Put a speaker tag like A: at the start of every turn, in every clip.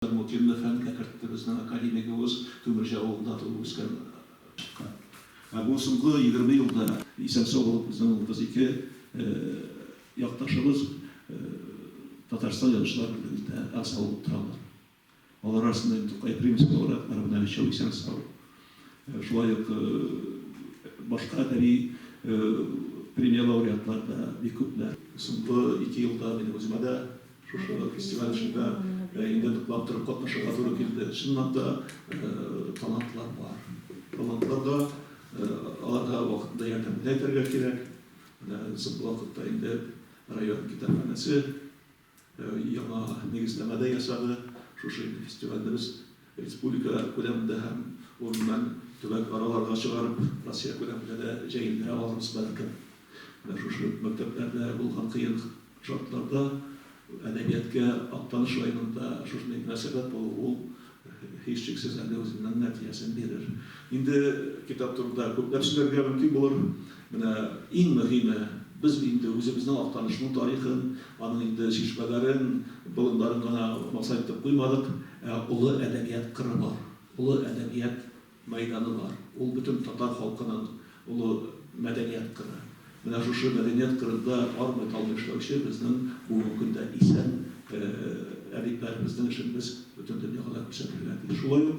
A: Зармутдинны фәнгә кертте. Безнең академигыбыз Күмерҗе авылында туып-үскән, чыккан. Ә бу соңгы егерме елда исән-сау булып безнең улыбыз ике якташыбыз Татарстан Язучылар берлегендә әгъза булып торалар. Алар арасында инде Тукай Примский лауреатлары белән өчәү исән-сау. Шулай ук башка әдәби премия лауреатлары да бик күпләр. Соңгы ике елда минем үземә дә Шушы да фестиваль эшендә инде ныклап торып катнашырга туры килде. Чынлап та, талантлар бар. Талантларга, аларга вакытында ярдәм дә итәргә кирәк. Менә соңгы вакытта инде район китапханәсе яңа нигезләмә дә ясады. Шушы инде фестивальне без Республикалар күләмендә һәм урыннан төбәк-араларга чыгарып, Россия күләмендә дә җәелдерә алырбыз, бәлкем. Менә шушы мәктәпләрдә булган кыен шартларда әдәбияткә Актаныш районында шушындый мөнәсәбәт булу, ул, һичшиксез, әле үзенең нәтиҗәсен бирер. Инде китап турында күпләп сөйләргә мөмкин булыр. Менә иң мөһиме, без инде үзебезнең Актанышның тарихын, аның инде чишмәләрен, болыннарын гына максайтып куймадык, ә олы әдәбият кыры бар, олы әдәбият мәйданы бар. Ул бөтен татар халкының олы мәдәният кыры. Менә шушы мәдәният кырында армый-талмый эшләүче безнең бүгенге көндә исән әдипләребезнең эшен без бөтен дөньяга да күрсәтергә тиеш. Шулай ук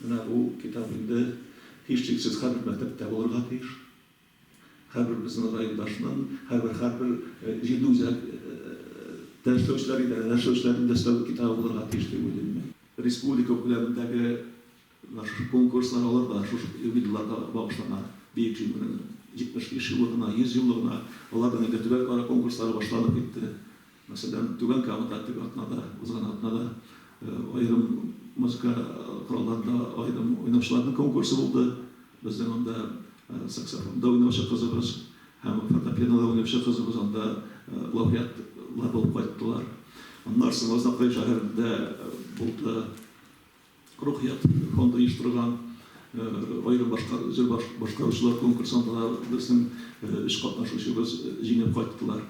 A: Менә бу китап инде, һичшиксез, һәрбер мәктәптә булырга тиеш. Һәрбер безнең райондашның, һәрбер, һәрбер җирле үзәк тә эшләүчеләр, идарәдә эшләүчеләрнең дә өстәве китабы булырга тиеш дип уйлыйм мин. Республика күләмендәге менә шушы конкурслар алар да шушы юбилейларга багышлана. Бөек Җиңүнең 75 еллыгына, 100 еллыгына, аларның инде төбәкара конкурслары башланып китте. Мәсәлән, Түбән Камада теге атнада, узган атнада аерым музыка коралларында аерым уйнаучыларның конкурсы булды. Безнең анда саксофонда уйнаучы кызыбыз һәм фортепианода уйнаучы кызыбыз анда лауреатлар булып кайттылар. Аннары соң Азнакай шәһәрендә булды. Рухият фонды оештырган аерым башка җыр башкаручылар конкурсында да безнең өч катнашучыбыз җиңеп кайттылар.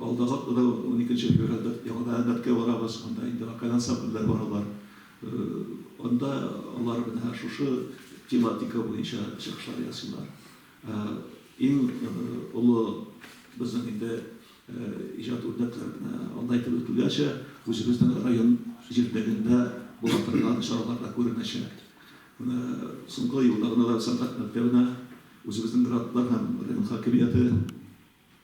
A: Алдагы атнада, уникенче февральдә яңадан Әлмәткә барабыз, анда инде вокаль ансамбльләр баралар. Анда алар менә шушы тематика буенча чыгышлар ясыйлар. Иң олы безнең инде иҗат үрнәк алда әйтеп үтүләрчә, үзебезнең район җирлегендә була торган чараларда күренәчәк. Менә соңгы елда гына да сәнгать мәктәбенә үзебезнең грантлар һәм район хакимияте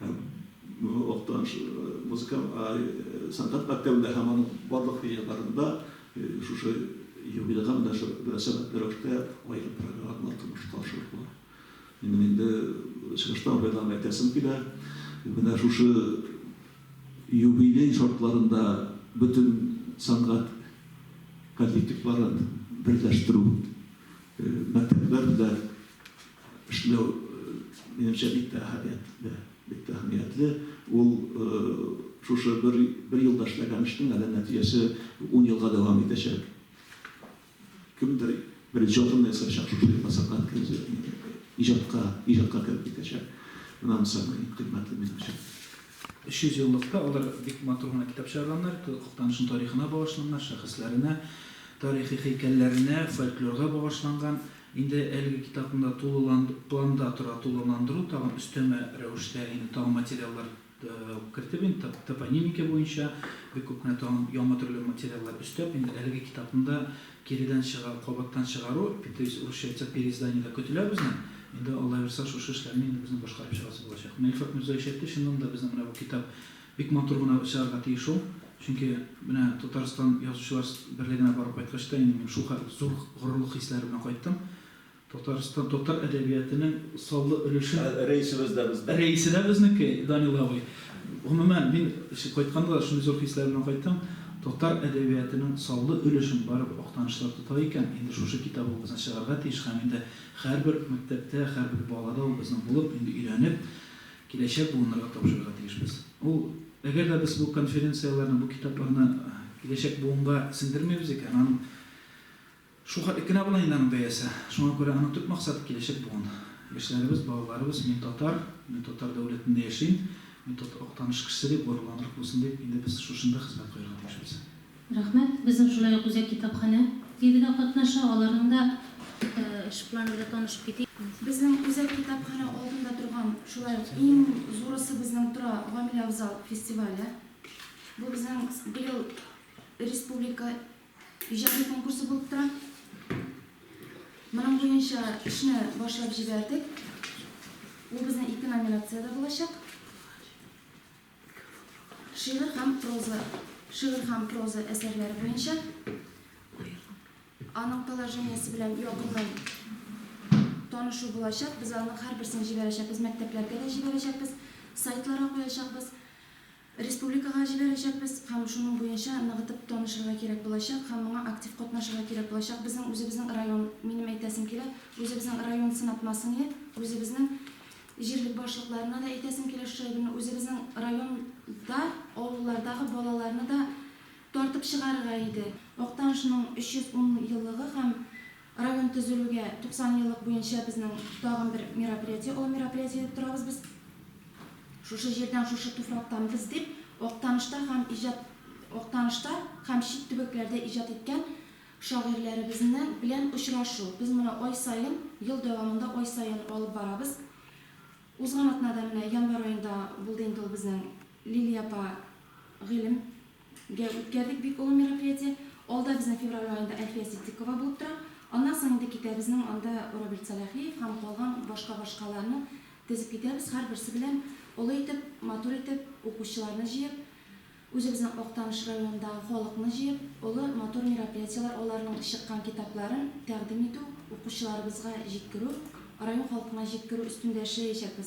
A: Һәм Миңа Актаныш музыка сәнгать мәктәбендә һәм аның барлык иҗатларында шушы юбилейга мөнәсәбәтле рәвештә аерым программалар тормышка ашырырга минем инде чыгыштан файдаланып әйтәсем килә. Менә шушы юбилей шартларында бөтен сәнгать коллективларын берләштерү, мәктәпләр белән Эшләү, минемчә, бик тә әһәмиятле, бик тә әһәмиятле. Ул шушы бер, бер елда эшләгән эшнең әле нәтиҗәсе ун елга дәвам итәчәк. Кемдер беренче атымны ясаячак, шушы елда Сәнгать көне иҗатка, иҗатка кереп китәчәк. Менә анысы иң кыйммәтле минем
B: өчен. 300 еллыкта алар бик матур гына китап чыгарганнар, Актанышның тарихына багышланган, шәхесләренә, тарихи һәйкәлләренә, фольклорга багышланган. Инде әлеге китапны да тулылан планда тора тулыландыру, тагын өстәмә рәвештә инде тагын материаллар кертеп, инде тап топонимика буенча бик күп кенә тагын яңа төрле материаллар өстәп, инде әлеге китапны да киредән чыга кабаттан чыгару, то есть урысча әйтсәк, переиздание да көтелә безнең. Инде Аллабирса шушы эшләрне инде безнең башкарып чыгасы булачак. Менә Илфат Мирзаевич әйтте, чыннан да безнең менә бу китап Бик матур гына чыгарга тиеш ул. Чөнки менә Татарстан Язучылар берлегенә барып кайткач та инде мин шул кадәр зур горурлык хисләре белән кайттым. Татарстан татар әдәбиятының саллы өлешен. Ә рәисебез дә безнең. Рәисе дә безнеке, Данил абый. Гомумән, мин кайтканда да шундый зур хисләр белән кайттым. Татар әдәбиятының саллы өлешен барыбер Актанышлылар тота икән, инде шушы китабыбызны чыгарга тиеш һәм инде һәрбер мәктәптә, һәрбер балада ул безнең булып, инде өйрәнеп, киләчәк буыннарга тапшырырга тиешбез. Ул, әгәр дә без бу конференцияләрне, бу китапларны киләчәк буынга сеңдермибез икән, аның шул хәтлек кенә була инде аның бәясе. Шуңа күрә аның төп максаты, киләчәк буын. Яшьләребез, балаларыбыз, мин татар, мин татар дәүләтендә яшим, мин татар Актаныш кешесе дип горурланрак булсын дип, инде без шушында хезмәт куярга тиешбез. Рәхмәт. Безнең
C: шулай ук үзәк китапханә ире дә катнаша. Аларның да ышыклары белән танышып китик. Безнең үзәк
D: китапханә алдында торган шулай ук иң зурысы безнең тора Гамилә Авзал фестивале. Бу безнең быел республика иҗади конкурсы булып тора. Моның буенча эшне башлап җибәрдек. Ул безнең ике номинациядә булачак. Шигырь һәм проза шигырь һәм проза әсәрләре буенча аның положениесе белән якыннан танышу булачак. Без аның һәрберсен җибәрәчәкбез, мәктәпләргә дә җибәрәчәкбез, сайтларга куячакбыз, республикага җибәрәчәкбез һәм шуның буенча ныгытып танышырга кирәк булачак һәм моңа актив катнашырга кирәк булачак. Безнең үзебезнең район, минем әйтәсем килә, үзебезнең район сынатмасын иде, үзебезнең Җирлек башлыкларына да әйтәсем килә шушы әйберне, үзебезнең районда авыллардагы балаларны да тартып чыгарырга иде. Актанышның 310 еллыгы һәм район төзелүгә 90 еллык буенча безнең тагын бер мероприятие, олы мероприятие дип торабыз без. Шушы җирдән, шушы туфрактан без дип, Актанышта һәм иҗат Актанышта һәм чит төбәкләрдә иҗат иткән Шагыйрьләребезнең белән очрашу. Без моны ай саен, ел дәвамында ай саен алып барабыз. Узган атнада, менә январь аенда булды инде ул безнең Лилия апа Гыйлем гә үткәрдек бик олы мероприятие. Алда безнең февраль аенда Әлфия Ситдикова булып тора. Аннан соң инде китәбезнең анда Рабил Сәлахиев һәм калган башка-башкаларны тезеп китәбез, һәрберсе белән олы итеп, матур итеп, укучыларны җыеп, Үзебезнең Актаныш районындагы халыкны җыеп, олы, матур мероприятиеләр аларның чыккан китапларын тәкъдим итү, укучыларыбызга җиткерү, район халкына җиткерү өстендә эшләячәкбез.